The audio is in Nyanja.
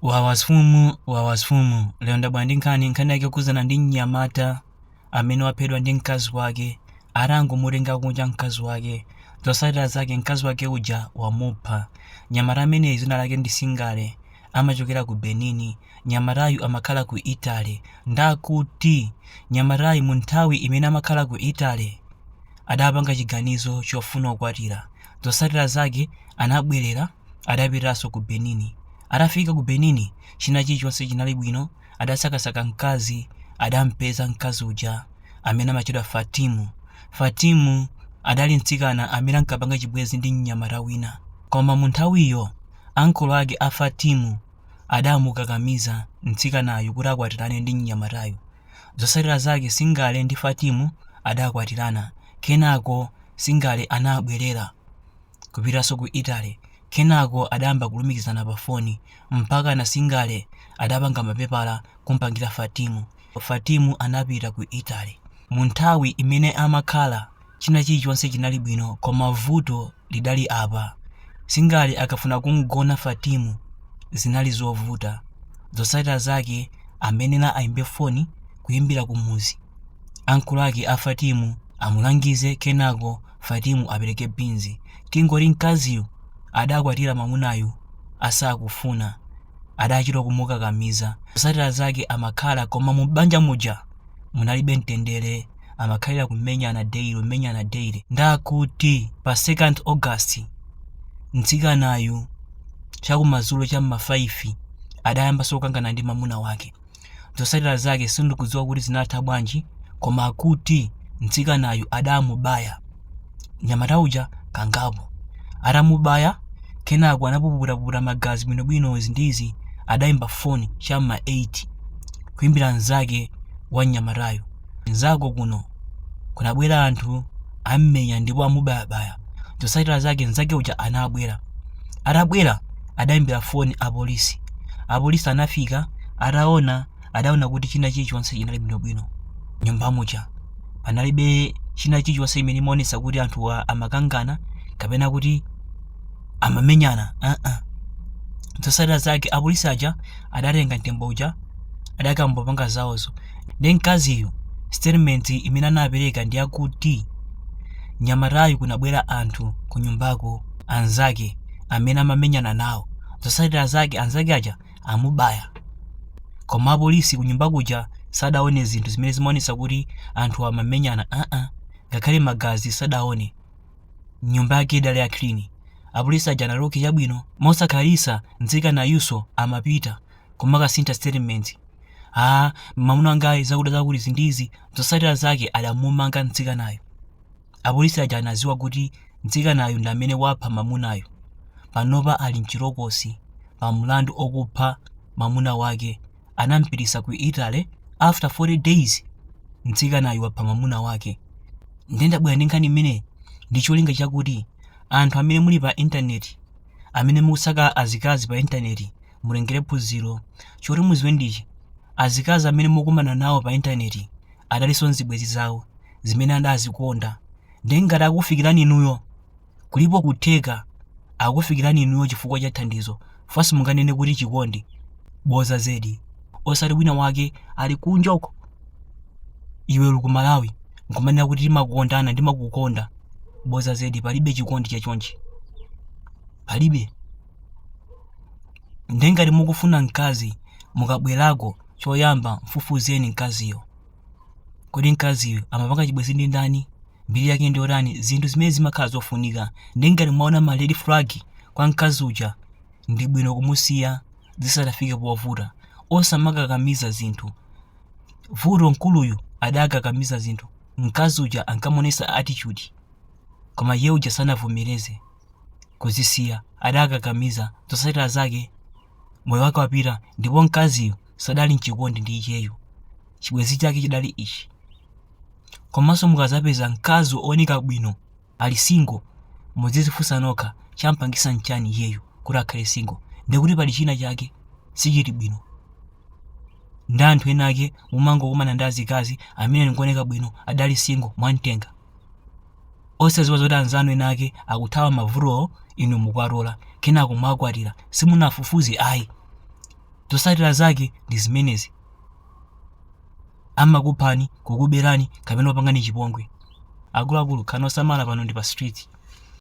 wawa mfumu wawa mfumu lero ndabwera ndi nkhani nkhani yake yokhudzana ndi mnyamata amene waphedwa ndi mkazi wake atangomutenga kunja mkazi wake zotsatira zake mkazi wake uja wamupha mnyamata ameneyi dzina lake ndi singale amachokera ku benin mnyamatayu amakhala ku italy ndakuti mnyamatayu mu nthawi imene amakhala ku italy adapanga chiganizo chofuna kukwatira zotsatira zake anabwerera adapitanso ku benin atafika ku benin china chilichonse chinali bwino adasakasaka mkazi adampeza mkazi uja amene amatchedwa fatimu fatimu adali mtsikana amene ankapanga chibwenzi ndi mnyamata wina koma mu nthawiyo makolo ake a fatimu adamukakamiza mtsikanayu kuti akwatirane ndi mnyamatayu zotsatira zake singale ndi fatimu adakwatirana kenako singale anabwerera kupitanso ku Italy. Kenako adayamba kulumikizana pa foni mpakana Singale adapanga mapepala kumpangira Fatimu. Fatimu anapita ku Italy. Mu nthawi imene amakhala, china chilichonse chinali bwino koma vuto lidali apa, Singale akafuna kumgona Fatimu zinali zovuta. Zotsatira zake amayenera ayimbe foni kuyimbira kumuzi, makolo ake a Fatimu amulangize kenako Fatimu apereke beans tingoti mkaziyu adakwatira mamunayu asakufuna adachita kumukakamiza zotsatira zake amakhala koma mu banja muja munalibe mtendere amakhalira kumenyana daily kumenyana daily ndakuti pa 2nd August mtsikanayu chakumadzulo cha m'ma 5 adayambanso kukangana ndi mamuna wake Zotsatira zake sindikudziwa kuti zinatha bwanji koma akuti mtsikanayu adamubaya mnyamata uja kangapo. Atamubaya kenako anapukutapukuta magazi bwinobwino izi ndi izi adaimba foni cha m'ma 8 kuimbira mnzake wa mnyamatayo. mnzako kuno kunabwera anthu ammenya ndipo amubayabaya zotsatira zake mnzake uja anabwera atabwera adayimbira foni apolisi apolisi anafika ataona adaona kuti china chilichonse chinali bwinobwino m'nyumba muja panalibe china chilichonse imene imaonetsa kuti anthuwa amakangana kapena kuti amamenyana uh-uh. zotsatira zake apolisi aja adatenga mtembo uja adakapanga zawozo Nde mkaziyu statement imene anapereka ndi yakuti nyamatayu kunabwera anthu kunyumbako anzake amene amamenyana nawo. Zotsatira zake anzake aja amubaya. Koma apolisi kunyumba kuja sadaone zinthu zimene zimaonetsa kuti anthuwa amamenyana aa. Ngakhale magazi sadaone. Nyumba yake idali ya clean. Apolisi aja anati okay chabwino. Mosakhalitsa mtsikanayunso amapita kumakasintha statement ah mamuna wangayu zakutizakuti izi ndizi zosatira zake adamumanga mtsikanayu apolisi aja anaziwa kuti mtsikanayu ndi amene wapha mamunayu panopa ali mchitokosi pa mlandu okupha mamuna wake anampitisa ku italy after 40 days mtsikanayu wapha mamuna wake ndiye ndabwera ndi nkhani imeneyi ndi cholinga chakuti anthu amene muli pa intaneti amene mukusaka azikazi pa intaneti mutengere phunziro. Choti muziwe ndichi, azikazi amene mukumana nawo pa intaneti adalinso nzibwenzi zawo zimene adazikonda nde ngati akukufikirani inuyo kulipo kutheka akukufikirani inuyo chifukwa cha thandizo fwa simunganene kuti chikondi, boza zedi. Osati wina wake ali kunja uko iwe uli ku Malawi nkumanena kuti timakondana ndimakukonda, boza zedi palibe chikondi cha chonchi. Palibe. ndiye ngati mukufuna mkazi mukabwerako choyamba mfufuzeni mkaziyo kodi mkaziyo amapanga chibwenzi ndi ndani mbiri yake ndiyotani zinthu zimene zimakhala zofunika ndiye ngati mwaona ma red flag kwa mkazi uja ndi bwino kumusiya zisadafike povuta osamakakamiza zinthu vuto mkuluyu adakakamiza zinthu mkazi uja ankamonesa attitude koma iye uja sanavomereze kuzisiya adakakamiza zotsatira zake moyo wake wapita ndipo mkaziyo sadali mchikondi ndi iyeyo chibwenzi chake chidali ichi komanso mukazapeza mkazi wooneka bwino ali singo muzizifunsa nokha champangisa mchani iyeyo kuti akhale singo ndikuti pali china chake sichili bwino ndi anthu ena ake mumangokumana ndi azikazi amene ndi ooneka bwino adali singo mwamtenga Osadziwa zoti anzanu ena ake akuthawa mavutowo inu mukuwatola, kenako mwakwatira. Simunafufuze ayi. Zotsatira zake ndi zimenezi. Amakuphani, kukuberani kapena kupangani chipongwe. Akuluakulu khalani osamala pano ndi pa street.